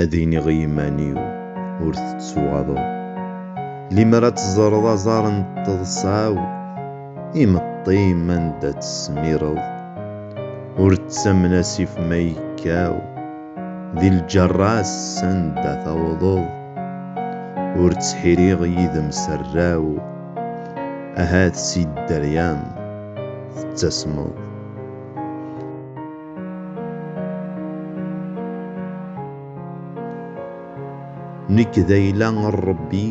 Ad iniɣ i yiman-iw ur tettuɣaḍeḍ. Limer ad teẓreḍ aẓar n teḍsa-w, imeṭṭi-m anda tt-tesmireḍ. Ur ttamen asif ma yekkaw, di lǧerra-s sanda tawḍeḍ. Ur ttḥiriɣ yid-m s rraw, ahat si dderya-m tettasmeḍ. Nek d ayla n Ṛebbi,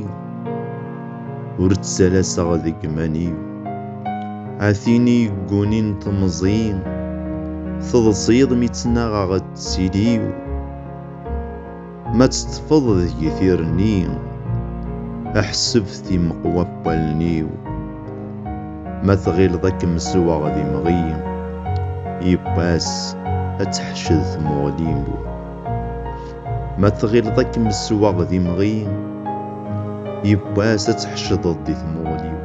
ur ttalaseɣ deg iman-iw. A tin i yeggunin temẓi, teḍsiḍ mi ttnaɣeɣ ttili-w. Ma teṭṭfeḍ deg-i tirni, ḥseb timeqwa n wallen-iw. Ma tɣileḍ ad kem-zewɣeɣ d imɣi, yiwwas ad teḥced tmuɣli-w. Ma tɣileḍ ad kem-zewɣeɣ d imɣi, yiwwas ad tḥecdeḍ di tmuɣli-w.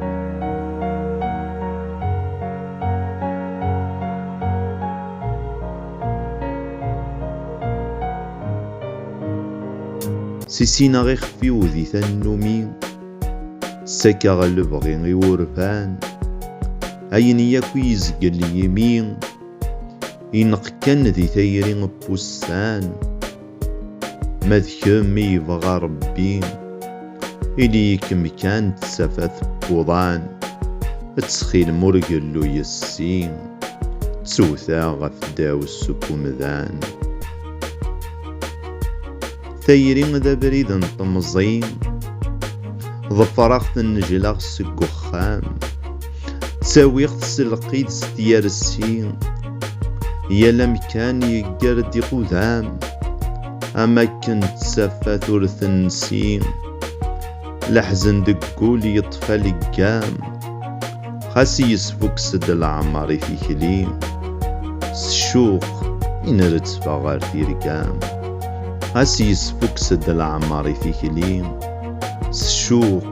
Sissineɣ ixef-iw di tannumi, Ssakeɣ lebɣi i wurfan, Ayen yakk i yezgel yimi, Ineqq kan di tayri n wussan. Ma d kemm i yebɣa Ṛebbi, ili-ikem kan d tafat n wuḍan, ttxil-m ur gellu yes-i, ttewteɣ ɣef ddaw-s seg umdan. Tayri d abrid n temẓi, ḍefreɣ-t nnejlaɣ seg uxxam. ttawiɣ-t s lqid s tyersi yal amkan yeggar-d iqudam am akken ttafat ur tensi leḥzen deg wul yeṭṭef aleggam xas yesfukkes-d leɛmer i tikli s ccuq i nrettfeɣ ɣer tirgam xas yesfukkes-d leɛmer i tikli s ccuq